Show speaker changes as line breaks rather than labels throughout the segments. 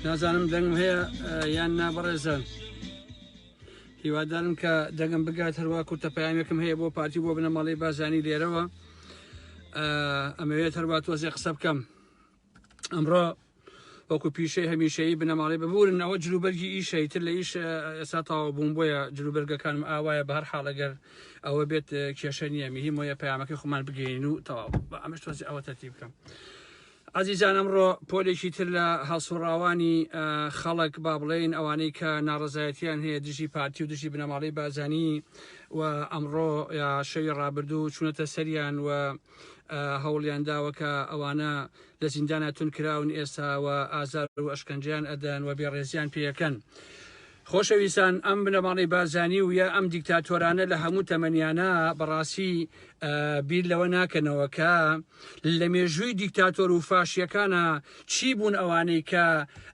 نازانم دەنگم هەیە یان نا بەڕێزە هیوادارم کە دەگەم بگات هەروە کورتە پامێکم هەیە بۆ پارتی بۆ بنەماڵی بازانی لێرەوە ئەمەوێت هەروە تۆزێ قسە بکەم ئەمڕۆ وەکو پیشەی هەمیشەیی بنەماڵی ببورن ئەوە جلوبەرگی ئیشە تر لە ئیش ئێستا تاوا بووم بۆیە جلوبەرگەکانم ئاوایە بە هەر حاڵەگەر ئەوە بێت کێشە نییە میهی مۆیە پەیامەکەی خۆمان بگەین و تەواو بە ئەمەش تۆزی ئەوە تەرتی بکەم. ئازیزان ئەمڕۆ پۆلێکی تر لە هەڵسوڕاوانی خەڵک با بڵێن ئەوانەی کە ناڕزایەتیان هەیە دژی پارتی و دژی بنەماڵی بازانی و ئەمڕۆ شەوی ڕابردوو چونەتە سەریان و هەوڵیان داوە کە ئەوانە لە زیندانا تون کراون ئێستا و ئازار و ئەشکەنجیان ئەدەن و بێڕێزیان پێەکەن. خۆشەویستان ئەم بنەماڵەی بارزانی و یا ئەم دیکتاتۆرانە لە هەموو تەمەنیانە بەڕاستی بیر لەوە ناکەنەوە کە لە مێژووی دیکتاتۆر و فاشیەکانە چی بوون ئەوانەی کە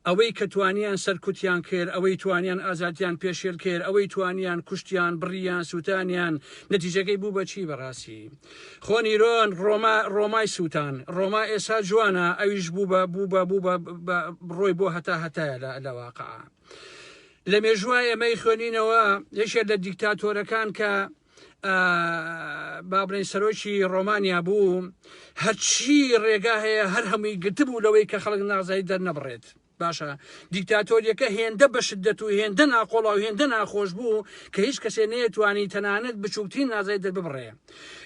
ئەوەی کە توانیان سەرکوتیان کرد ئەوەی توانیان ئازادیان پێشێل کرد ئەوەی توانیان کوشتیان بڕیان سووتانیان نەتیجەکەی بوو بەچی بەڕاستی خۆ نیرۆن ڕۆما ڕۆمای سووتان ڕۆما ئێسا جوانە ئەویش بوو بە بوو بە بوو بە ڕۆی بۆ هەتا هەتایە لە لەواقع لە مێژوە ئێمەی خوێنینەوە یەکێ لە دیکتاتۆرەکان کە بابرین سەرۆکی ڕۆمانیا بوو هەرچی ڕێگا هەیە هەر هەمووی گرتبوو لەوەی کە خەڵک نازای دەرنەبڕێت باشە دیکتاتۆریەکە هێندە بە شدەت و هێندە ناقۆڵا و هێندە ناخۆش بوو کە هیچ کەسێ نەیەتوانی تەنانەت بچووکترین نازای دەرببڕێ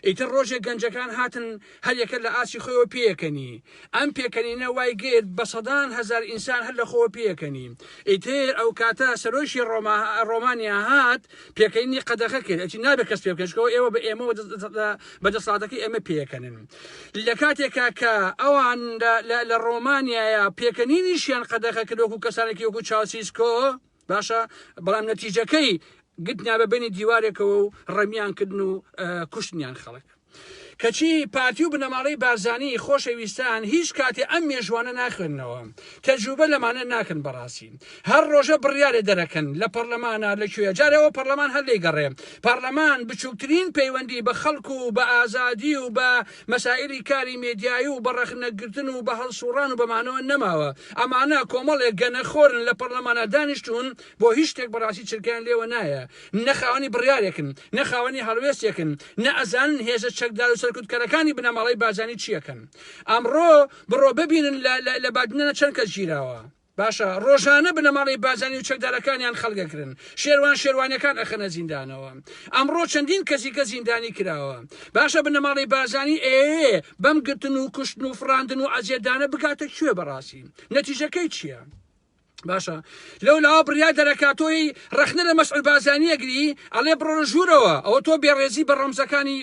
ئیتر ڕۆژێک گەنجەکان هاتن هەریەکە لە ئاستی خۆیەوە پێیەکەنی ئەم پێکەنینە وای گرت بە سەدان هەزار ئینسان هەر لە خۆوە پێیەکەنی ئیتر ئەو کاتە سەرۆکی ڕۆما ڕۆمانیا هات پێکەنینی قەدەخە کرد ئەچی نابێت کەس پێ بکەشکەوە ئێوە بە ئێمەوە بە دەسڵاتەکەی ئێمە پێکەنن لە کاتێکا کە ئەوان لە ڕۆمانیایە پێکەنینیشیان قەدەخە کردۆک و کەسانێکی وەکو چاوسیسکۆ باشە بەڵام نەتیجەکەی گتنا بە بینی دیوارێکەوە و ڕەمیان کردن و کوشتنیان خەڵک کەچی پارتی و بنەماڵەی بارزانی خۆشە ویستان هیچ کاتێ ئەم مێژوانە ناخوێننەوە تەجوبە لەمانە ناکەن بەڕاستی هەر ڕۆژە بڕیارێ دەرەکەن لە پەڕلەمانا لە کوێ جارێ ئەوە پەڕلەمان هەر لێ گەڕێ پەڕلەمان بچوکترین پەیوەندی بە خەڵک و بە ئازادی و بە مەسائیلی کاری مێدیایی و بە ڕەخنە گرتن و بە هەڵسوڕان و بەمانەوە نەماوە ئەمانە کۆمەڵێ گەنەخۆرن لە پەڕلەمانا دانیشتون بۆ هیچ شتێک بەڕاستی چرکەیان لێوە نایە نە خاوەنی بڕیارێکن، نە خاوەنی هەڵوێستێکن، نە ئەزانن هێزە چەکدار و سەرکوتکەرەکانی بنەماڵەی بارزانی چییەکەن. ئەمڕۆ بڕۆ ببینن لە لە بادینانە چەند کەس گیراوە. باشە ڕۆژانە بنەماڵەی بارزانی و چەکدارەکانیان خەڵگەکرن، شێروان شێروانیەکان ئەخەنە زیندانەوە. ئەمڕۆ چەندین کەس دیکە زیندانی کراوە. باشە بنەماڵەی بارزانی ئەیەوێ بەم گرتن و کوشتن و فڕاندن و عەزێتدانە بگاتە کوێ بەڕاستی؟ نەتیجەکەی چییە؟ باشە لەو لاوە بریا دەرەکاتۆی ڕخنە لە مەسعود بازانیەگری ئەڵێ بڕۆ ژوورەوە ئەوە تۆ بێڕێزی بە ڕەمزەکانی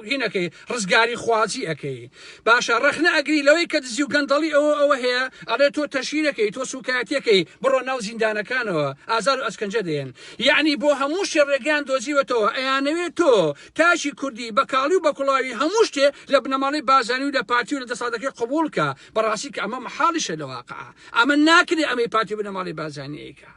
هینەکەی ڕزگاری خوازی ئەەکەی باشە ڕخنە ئەگری لەوەی کە دزی و گەندەڵی ئەوە ئەوە هەیە ئەڵێ تۆ تەشیرەکەی تۆ سوکایەتەکەی بڕۆ ناو زیندانەکانەوە ئازار و ئەسکەنجە دێن یعنی بۆ هەموو شێڕێگەیان دۆزیوەتەوە ئەیانەوێت تۆ تاشی کوردی بەکاڵی و بەکڵاوی هەموو شتێ لە بنەماڵی بازانی و لە پارتی و لە دەسادەکەی قبولکە بەڕاستی کە ئەمە مەحاڵیشە لە واقع ئەمە ناکرێ ئەمەی پارتی بنەماڵی بازانەیەکە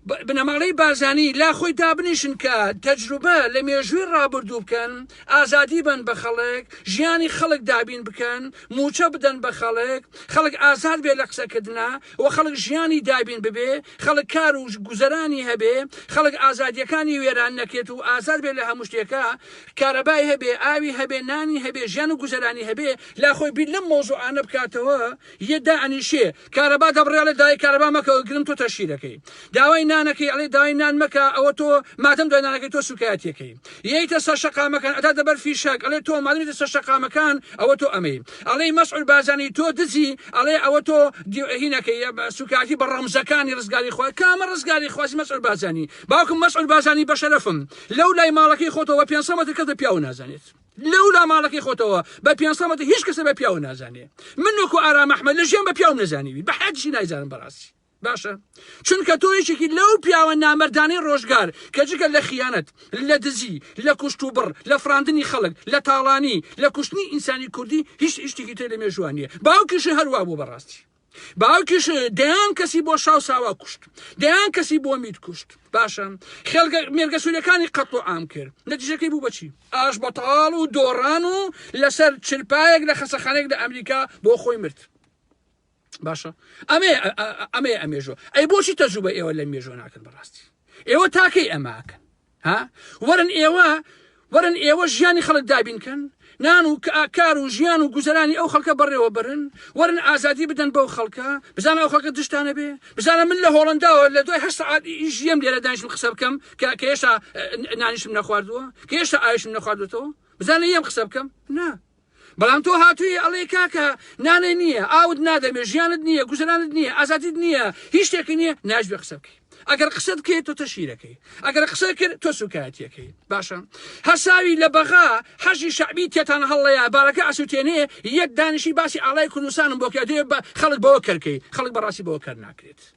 بنەماڵەی بازانی لا خۆی دابنیشن کە تەجروبە لە مێژووی ڕابردوو بکەن ئازادی بن بە خەڵک ژیانی خەڵک دابین بکەن موچە بدەن بە خەڵک خەڵک ئازاد بێ لە قسەکردنا و خەڵک ژیانی دابین ببێ خەڵک کار و گوزەرانی هەبێ خەڵک ئازادیەکانی وێران نەکرێت و ئازاد بێ لە هەموو شتێکە کارەبای هەبێ ئاوی هەبێ نانی هەبێ ژیان و گوزەرانی هەبێ لا خۆی بیر لەم مەوزوعانە بکاتەوە یە دائەنیشێ کارەبا دەبڕێ ئەڵێ داوای کارەبا مەکە گرم تۆ تەشهیرەکەی داوای نانەکەی ئەڵێ داوای نان مەکە ئەوە تۆ مادەم دوای نانەکەی تۆ سوکایەتیەکەی یەیتە سەر شەقامەکان ئەداتە بەر فیشەک ئەڵێ تۆ مادەم یەتە سەر شەقامەکان ئەوە تۆ ئەمەی ئەڵێی مەسعود بارزانی تۆ دزی ئەڵێ ئەوە تۆ هینەکەی یە بە سوکایەتی بە ڕەمزەکانی ڕزگاری خوا کامە ڕزگاری خوازی مەسعود بارزانی باوکم مەسعود بارزانی بەشەرەفم لەو لای ماڵەکەی خۆتەوە بە پێنج سەد مەتر کەس لە پیاوو نازانێت لەو لا ماڵەکەی خۆتەوە بە پێنج سەد مەتر هیچ کەسە بە پیاوە نازانێ من وەکو ئارام ئەحمەد لە ژیان بە پیاوم نەزانیوی بە حیاتیشی نایزانم بەڕاستی باشە چونکە تۆ یەکێکی لەو پیاوە نامەردانەی ڕۆژگار کە جگە لە خیانەت لە دزی لە کوشت و بڕ لە فراندنی خەڵک لە تاڵانی لە کوشتنی ئینسانی کوردی هیچ هیچ شتێکی تر لە مێژوان نییە باوکیشی هەروا بوو بەڕاستی باوکیش دەیان کەسی بۆ شاو ساوا کوشت دەیان کەسی بۆ میت کوشت باشە خێلگە مێرگەسوورەکانی قەت و عام کرد نەتیجەکەی بوو بەچی ئاش بەتاڵ و دۆڕان و لەسەر چرپایەک لە خەسەخانێک لە ئەمریکا بۆ خۆی مرد باشە ئەمێ ئەمێ ئەمێژۆ ئەی بۆچی تەجوبە ئێوە لە مێژۆ ناکەن بەڕاستی ئێوە تاکەی ئەماکەن ها وەرن ئێوە وەرن ئێوە ژیانی خەڵک دابین کەن نان و کار و ژیان و گوزەرانی ئەو خەڵکە بەڕێوە برن وەرن ئازادی بدەن بەو خەڵکە بزان ئەو خەڵکە دشتانە بێ بزانە من لە هۆڵنداوە لە دوای هەر سعات ژیم لێرە دانیشم قسە بکەم کە کە هێشتا نانیشم نەخواردووە کە هێشتا ئایشم نەخواردوێتەوە بزانە یەم قسە بکەم نا بەڵام تۆ هاتووی ئەڵێی کاکە نانێ نییە ئاوت نادەمێ ژیانت نییە گوزەرانت نییە ئازادیت نییە هیچ شتێکی نییە ناجبێ قسە بکەی ئەگەر قسە بکەیت تۆ تەشیرەکەی ئەگەر قسە کرد تۆ سوکایەتیەکەی باشە هەساوی لە بەغا حەشی شعبی تێتان هەڵەیە بارەکە ئەسووتێنێ یەک دانیشی باسی ئاڵای کوردستانم بۆکە دێ بە خەڵک بەوە کەرکەی خەڵک بەڕاستی بەوە کەر ناکرێت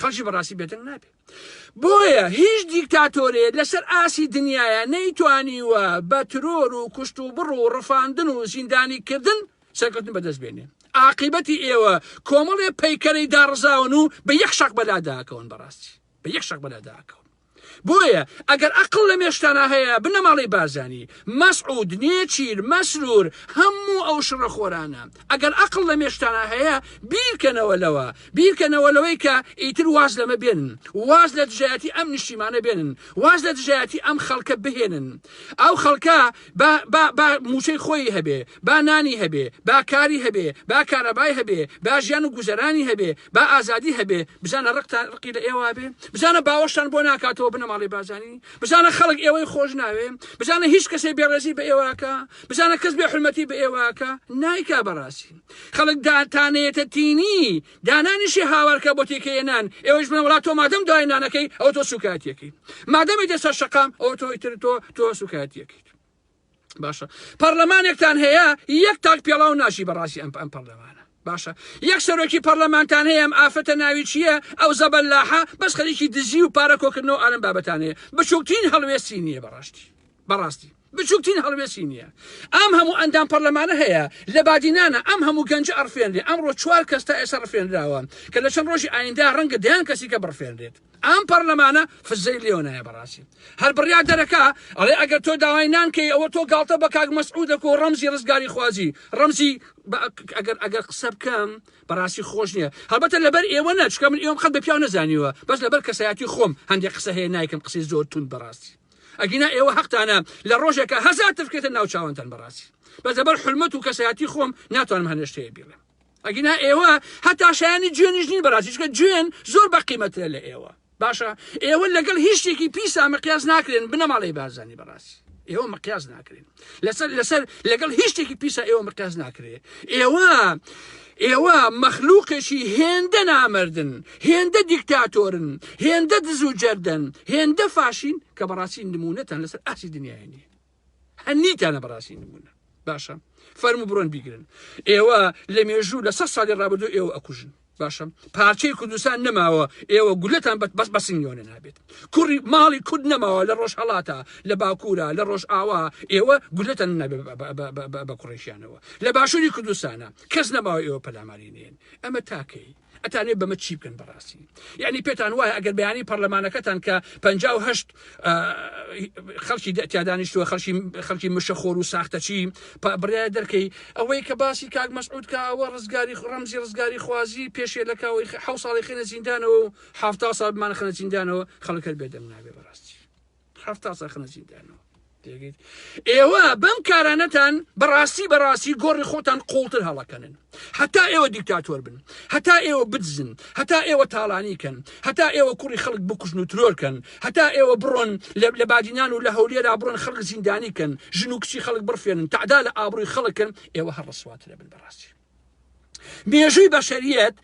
خەڵکی بەڕاستی بێدەنگ نابێ بۆیە هیچ دیکتاتۆرێ لەسەر ئاسی دنیاە نەیتوانیوە بە ترۆر و کوشت و بڕ و ڕفاندن و زیندانی کردن سەرکەوتن بەدەست بێنێ ئاقیبەتی ئێوە کۆمەڵێ پەیکەرەی داڕزاون و بە یەک شەق بەلاداکەون بەڕاستی بە یەک شەق بەلاداکەون بۆیە ئەگەر ئەقڵ لە مێشکتانا هەیە بنەماڵەی بارزانی، مەسعود، نێچیر، مەسرور، هەموو ئەو شڕە خۆرانە ئەگەر ئەقڵ لە مێشکتانا هەیە بیرکەنەوە لەوە، بیرکەنەوە لەوەی کە ئیتر واز لەمە بێنن، واز لە دژایەتی ئەم نیشتیمانە بێنن، واز لە دژایەتی ئەم خەڵکە بهێنن، ئەو خەڵکە با با با مووچەی خۆیی هەبێ، با نانی هەبێ، با کاری هەبێ، با کارەبای هەبێ، با ژیان و گوزەرانی هەبێ، با ئازادی هەبێ، بزانە ڕقتان ڕقی لە ئێوە بێ، بزانە باوەشتان بۆ ناکاتەوە بنەماڵەی بارزانی، بزانە خەڵک ئێوەی خۆش ناوێ، بزانە هیچ کەسێ بێڕێزی بە ئێوە ئەکا، بزانە کەس بێ حورمەتی بە ئێوە ئەکا، نایکا بەڕاستی خەڵک داتانێتە تینی، دانانیشی هاوارکە بۆ تێکەیە نان ئێوەش بنە وڵات تۆ مادەم دوای نانەکەی ئەو تۆ سوکایەتەکەی مادەمی دە سەر شقام ئەو تۆی تر تۆ تۆ سوکایەتەکەیت باشە پەرلەمانێکتان هەیە یەک تاک پێڵاو ناشی بەڕاستی ئەم ئەم پەرلەمانە باشە یەک سەرۆکی پەرلەمانتان هەیە ئەم ئافرەتە ناوی چییە ئەو زەبەللاحە بەس خەریکی دزی و پارە کۆکردنەوە ئالم بابەتانەیە بچووکترین هەڵوێستی نییە بەڕاستی بەڕاستی بچوکترین هەڵوێستی نییە. ئەم هەموو ئەندام پەرلەمانە هەیە لە بادینانە، ئەم هەموو گەنجە ئەڕفێنرێ، ئەمڕۆ چوار کەس تا ئێستا ڕفێنراوە، کە لە چەند ڕۆژی ئایندە ڕەنگە دەیان کەسی کە بڕفێنرێت. ئەم پەرلەمانە فززەی لێوە نایە بەڕاستی. هەر بڕیار دەرەکە ئەڵێ ئەگەر تۆ داوای نان کەی ئەوە تۆ گاڵتە بە کاک مەسعود دەکو و ڕەمزی ڕزگاری خوازی، ڕەمزی ئەگەر ئەگەر قسە بکەم بەڕاستی خۆش نییە. هەڵبەتە لەبەر ئێوە نە چکە من ئێوەم قەت بە پیاو نەزانیوە، بەس لەبەر کەسایەتی خۆم هەندێک قسە هەیە نایکەم قسەی زۆر توند بەڕاستی. ئەگینا ئێوە حەقتانە لە ڕۆژێکە هەزار تفکرێتە ناو چاوانتان بەڕاستی بە دەبەر حلمەت و کەسایەتی خۆم ناتوانم هەنێشتەیە بیڵێم ئەگینا ئێوە هەتا شایانی جوێنیش نین بەڕاستیشکە جوێن زۆر بە قیمەترە لە ئێوە باشە ئێوە لەگەڵ هیچ شتێکی پیسا مەقیاز ناکرێن بنەماڵی بازانی بەڕاستی ئێوە مەقیاز ناکرێن لەسەر لەسەر لەگەڵ هیچ شتێکی پیسە ئێوە مقیاس ناکرێ ئێوە ئێوە مەخلووقێکی هێندە نامردن هێندە دیکتاتۆرن هێندە دز و جەردن هێندە فاشین کە بەڕاستی نمونەتان لەسەر ئاسی دنیای نیە هەنیتانە بەڕاستی نمونە باشە فەرمو بڕۆن بیگرن ئێوە لە مێژوو لە سە ساڵی ڕابردو ئێوە ئەکوژن باشە پارچەی کوردستان نەماوە ئێوە گولەتان بەت بەس بەسنگۆنە نابێت کوڕی ماڵی کورد نەماوە لە ڕۆژ هەڵاتە لە باکوورە لە ڕۆژ ئاوا ئێوە گولەتەن نابێت بە کوڕێکیانەوە لە باشووری کوردستانە کەس نەماوە ئێوە پەلاماری نێن ئەمە تاکەی ئەتانێ بەمە چی بکەن بەڕاستی یعنی پێتان وایە ئەگەر بەیانی پەرلەمانەکەتان کە 1970 خەڵکی تیادانیشتووە خەڵکی خەڵکی مشەخۆر و ساختەچی برای دەرکەی ئەوەی کە باسی کاک مەسعود کە ئەوە ڕزگاری ڕەمزی ڕزگاری خوازی پێشێ لە کاوەی حە ساڵی خێنە زیندانەوە و حفتا ساڵمان خەنە زیندانەوە خەڵکەر بێدەنگ نابێ بەڕاستی حفتا سا خەنە زیندانەوە ئێوە بەم کارانەتان بەڕاستی بەڕاستی گۆڕی خۆتان قوڵتر هەڵەکەنن هەتا ئێوە دیکتاتۆر بن هەتا ئێوە بدزن هەتا ئێوە تاڵانی کەن هەتا ئێوە کوڕی خەڵک بکوژن و ترۆرکەن هەتا ئێوە بڕۆن لە بادینان و لە هەولێرا بڕۆن خەڵک زیندانی کەن ژن و کچی خەڵک بڕفێنن تعدا لە ئابرووی خەڵکن ئێوە هەڕسواترە بن بەڕاستی مێژووی بەشەریەت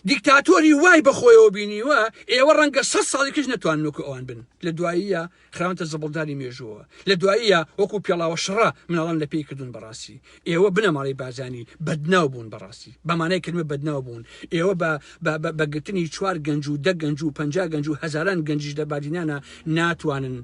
دیکتاتۆری وای بەخۆیەوە بینیوە ئێوە ڕەنگە سە ساڵی کەش نەتوان وەکو ئەوان بن لە دواییە خراونتە زبڵدانی مێژووە لە دواییە وەکو پێڵاوە شڕە مناڵان لە پێی کردوون بەڕاستی ئێوە بنەماڵی بازانی بەدناو بوون بەڕاستی بەمانای کردمە بەدناو بوون ئێوە بە بەگرتنی چوار گەنج و دە گەنج و پ گەنج و هزاران گەنجش لە بادینانە ناتوانن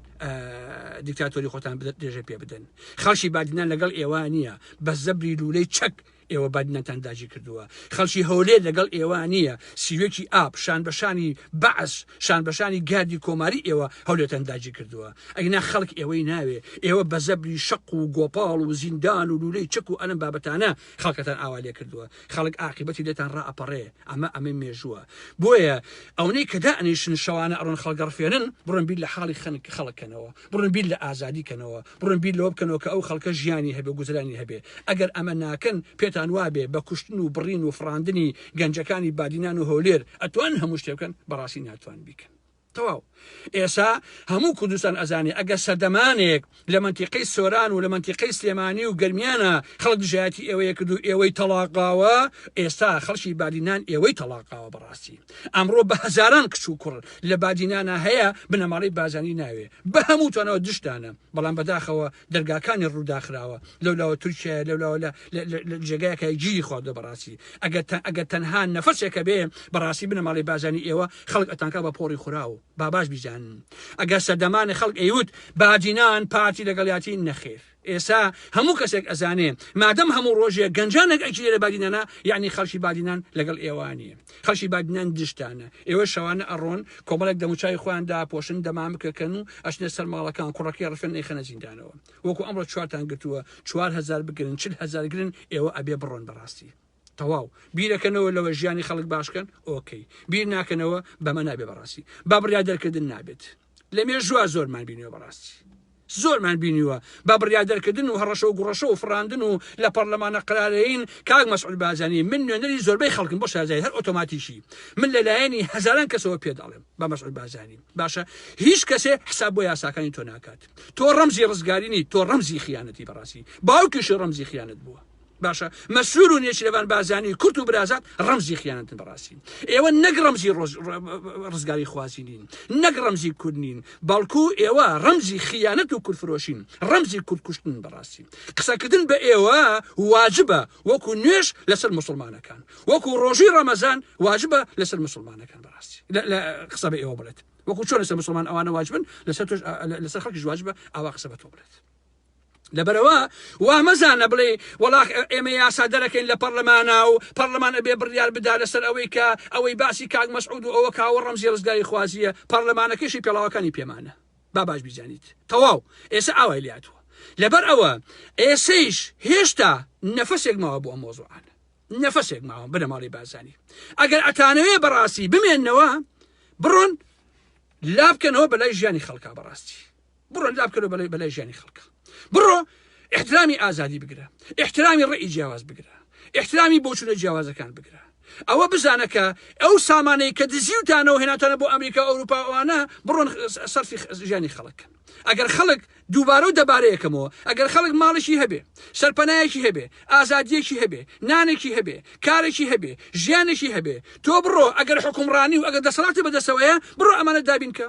دیکتاتۆری خۆتان بدەێژە پێ بدەن خەڵکی بادینان لەگەڵ ئێوە نییە بە زەبری لولەی چەک ئێوە بادینەتان داگیر کردووە خەڵکی هەولێر لەگەڵ ئێوە نییە سیوێکی ئاپ شان بەشانی بەعس شان بەشانی گاردی کۆماری ئێوە هەولێتان داگیر کردووە ئەگنا خەڵک ئێوەی ناوێ ئێوە بە زەبری شەق و گۆپاڵ و زیندان و لولەی چەک و ئەلم بابەتانە خەڵکەتان ئاوا لێ کردووە خەڵک ئاقیبەتی لێتان ڕائەپەڕێ ئەمە ئەمەی مێژووە بۆیە ئەونەی کە دائنیشن شەوانە ئەڕۆن خەڵگەڕفێنن بڕۆن بیر لە حاڵی خەنک خەڵکەنەوە بڕۆن بیر لە ئازادی کەنەوە، بڕۆن بیر لەوە بکەنەوە کە ئەو خەڵکە ژیانی هەبێ و گوزرانی هەبێ. ئەگەر ئەمە ناکەن، پێتان وابێ بە کوشتن و بڕین و فڕاندنی گەنجەکانی بادینان و هەولێر ئەتوانن هەموو شتێ بکەن، بەڕاستی ناتوانن بیکەن. تەواو. ئێسا هەموو کوردستان ئەزانێ ئەگەر سەردەمانێک لە مەنتیقەی سۆران و لە مەنتیقەی سلێمانی و گەرمیانە خەڵک دژایەتی ئێوەیە کرد و ئێوەی تەڵاقاوە، ئێستا خەڵکی بادینان ئێوەی تەڵاقاوە بەڕاستی. ئەمڕۆ بە هەزاران کچ و کوڕ لە بادینانا هەیە بنەماڵەی بارزانی ناوێ بە هەمووتانەوە دژتانە بەڵام بەداخەوە دەرگاکانی ڕووداخراوە لەولاوە تورکیایە لەولاوە لە جێگایەکە گیری خواردە بەڕاستی ئەگەر ئەگەر تەنها نەفەسێکە بێ بەڕاستی بنەماڵەی بازانی ئێوە خەڵک ئەتانکە بە پۆڕی خوراو باباش بیزانن ئەگەر سەردەمانی خەڵک ئەیوت بادینان پارتی لەگەڵیاتی نەخێر ئێستا هەموو کەسێک ئەزانێ مادەم هەموو ڕۆژێک گەنجانێک ئەگیرێ لە بادینانە یعنی خەڵکی بادینان لەگەڵ ئێوانیە خەڵکی بادینان دشتانە ئێوە شەوانە ئەڕۆن کۆمەڵێک دەموچای خۆیان داپۆشن دەمام بکەکەن و ئەچنە سەر ماڵەکان کوڕەکەی ڕفێن نەیخەنە زیندانەوە وەکو ئەمڕۆ چوارتان گرتووە چوار هزار بگرن چل هزار گرن ئێوە ئەبێ بڕۆن بەڕاستی تەواو بیرەکەنەوە لەوە ژیانی خەڵک باشکەن ئۆکەی بیر ناکەنەوە بەمە نابێ بەڕاستی با بڕیا دەرکردن نابێت لە مێژووە زۆرمان بینیوە بەڕاستی زۆرمان بینیوە بە بڕیا دەرکردن و هەڕەشە و گوڕەشە و فراندن و لە پەرلەمانە قرارەین کاک مەسعود بازانی من نوێنەری زۆربەی خەڵکم بۆ شازای هەر ئۆتۆماتیکی من لەلایەنی هەزاران کەسەوە پێداڵێم بە مەسعود بازانی باشە هیچ کەسێ حساب بۆ یاساکانی تۆ ناکات تۆ ڕەمزی ڕزگارینی تۆ ڕەمزی خیانەتی بەڕاستی باوکیشی ڕەمزی خیانەت بووە باشە مەسرور و نێچیرەڤان بارزانی کورت و برازات ڕەمزی خیانەتن بەڕاستی ئێوە نەک ڕەمزی ڕۆژ ڕزگاری خوازی نین نەک ڕەمزی کورد نین بەڵکو ئێوە ڕەمزی خیانەت و کورفرۆشین ڕەمزی کوردکوشتن بەڕاستی قسەکردن بە ئێوە واجبە وەکو نوێش لەسەر مسلمانەکان وەکو ڕۆژی ڕەمەزان واجبە لەسەر مسلمانەکان بەڕاستی لە قسە بە ئێوە بڵێت وەکو چۆن لەسەر مسلمان ئەوانە واجبن لەسەر لەسەر خەڵکی واجبە ئاوا قسە بە تۆ بڵێت لەبەرئەوە وا مەزانە بڵێ وەڵا ئێمە یاسا دەرەکەین لە پەرلەمانە و پەرلەمان ئەبێ بڕیار بدا لەسەر ئەوەی کە ئەوەی باسی کاک مەسعود و ئەوە کاوە ڕەمزی ڕزگاری خوازیە پەرلەمانەکەشی پێڵاوەکانی پێمانە با باش بیزانیت تەواو ئێستا ئاوای لاتوە لەبەر ئەوە ئێسەیش هێشتا نەفەسێک ماوە بۆ مۆزوعان نەفەسێک ماوە بنەماڵی بازانی ئەگەر ئەتانەوێ بەڕاستی بمێنەوە بڕۆن لابکەنەوە بەلای ژیانی خەڵکا بەڕاستی بڕۆ لا بکەرە بەلای بەلای ژیانی خەڵکە بڕۆ احترامی ئازادی بگرە احترامی ڕێی جیاواز بگرە احترامی بۆچونە جیاوازەکان بگرە ئەوە بزانە کە ئەو سامانەی کە دزیوتانەوە هێناتانە بۆ ئەمریکا ئەوروپاوانە بڕۆن سەرفی ژیانی خەڵکن ئەگەر خەڵک دووبارە و دەبارەیەکەمەوە ئەگەر خەڵک ماڵێکی هەبێ سەرپەنایەکی هەبێ ئازادیەکی هەبێ نانێکی هەبێ کارێکی هەبێ ژیانێکی هەبێ تۆ بڕۆ ئەگەر حکومڕانی و ئەگەر دەسەڵاتی بەدەسەوەیە بڕۆ ئەمانە دابینکە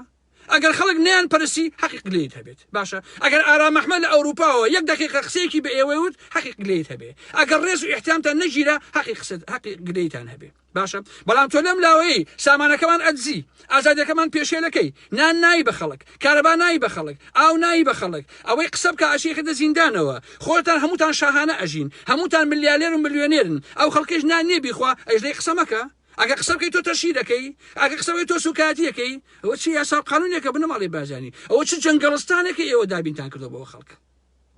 ئەگەر خەڵک نیان پەرسی حەقی قلەیت هەبێت باشە ئەگەر ئارام ئەحمە لە ئەوروپاوە یەک دقیقە قسەیەکی بە ئێوەی وت حەقی قلەیت هەبێ ئەگەر ڕێز و احتیامتان نەگیرە حەقی قسە حەقی گلەیتان هەبێ باشە بەڵام تۆ لەم لاوەیە سامانەکەمان ئەدزی ئازادەکەمان پێشێلەکەی نان نایی بە خەڵک کارەبا نایی بە خەڵک ئاو نایی بە خەڵک ئەوەی قسە بکە ئاشێکردە زیندانەوە خۆتان هەمووتان شاهانە ئەژین هەمووتان ملیالێر و ملیۆنێرن ئەو خەڵکش نان نیێ بیخوا ئەژدەی قسەمەکە ئەگەر قسە بکەی تۆ تەشهیر ئەکەی، ئەگەر قسە بکەی تۆ سوکایەتی ئەکەی، ئەوە چ یاسا و قانونێکە بنەماڵەی بارزانی، ئەوە چ جەنگەڵستانێکە ئێوە دابینتان کردوە بۆ خەڵک،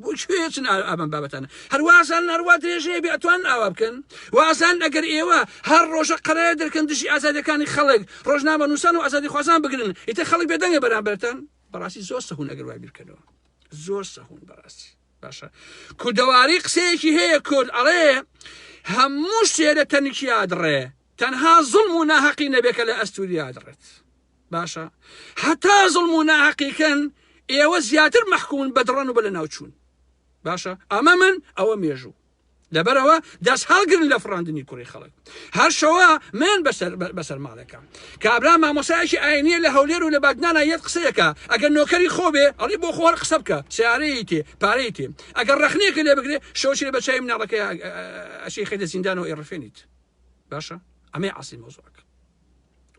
بۆ کوێ ئەچن ئەم بابەتانە، هەر وا ئەزانن هەر وا درێژ هەیە بێ ئەتوانن ئاوا بکەن، وا ئەزانن ئەگەر ئێوە هەر ڕۆژە قەرایە دەرکەن دژی ئازادیەکانی خەڵک، ڕۆژنامەنووسان و ئازادیخوازان بگرن، ئیتر خەڵک بێدەنگە بەرامبەرتان، بەڕاستی زۆر سەهوون ئەگەر وا بیر بکەنەوە، زۆر سەهوون بەڕاستی. باشە کوردەواری قسەیەکی هەیە کورد ئەڵێ هەموو شتێ لە تەنکیا دڕێ تەنها زڵم و ناهەقی نەبێ کە لە ئەستوریا دڕێت باشە هەتا زڵم و ناهەقیکەن ئێوە زیاتر مەحکوون بەدڕەن و بە لە ناوچوون باشە ئەمە من ئەوە مێژوو لەبەرئەوە دەست هەڵگرن لە فڕاندنی کوڕی خەڵک هەر شەوە من بەسەر ماڵەکەم کابرا مامۆسایەکی ئاینیە لە هەولێر و لە بادنانا یەت قسەیەکە ئەگەر نۆکەری خۆبێ ئەڵی بۆ خۆر قسە بکە سیارەیە تێ پارەی تێ ئەگەر ڕخنێکە لێ بگرێ شەوچێ بە چای مناڵەکە ئەشی خەیدە زیندان و ئێڕفێنیت باشە ئەمەی عاسی مۆزۆک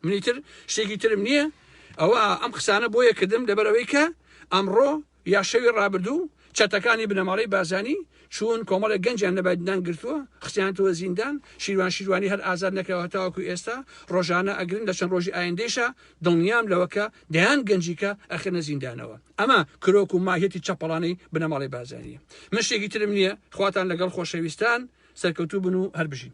منیتر شتێکی ترم نییە ئەوە ئەم قسانە بۆیە کردم لەبەرەوەی کە ئەمڕۆ یا شەوی ڕابردوو چەتەکانی بنەماڵەی بارزانی چوون کۆمەڵێک گەنجیان لەبای ددان گرتووە خستیانەتەوە زیندان، شیروان شیروانی هەر ئازاد نەکراوە هەتاوەکو ئێستا ڕۆژانە ئەگرن لە چەند ڕۆژی ئایندەیشا دڵنیام لەوە کە دەیان گەنجیکە ئەخرێنە زیندانەوە ئەمە کرۆک و ماهیەتی چەپەڵانەی بنەماڵەی بارزانیە من شتێکی ترم نیە خواتان لەگەڵ خۆشەویستان سەرکەوتوو بن و هەربژین.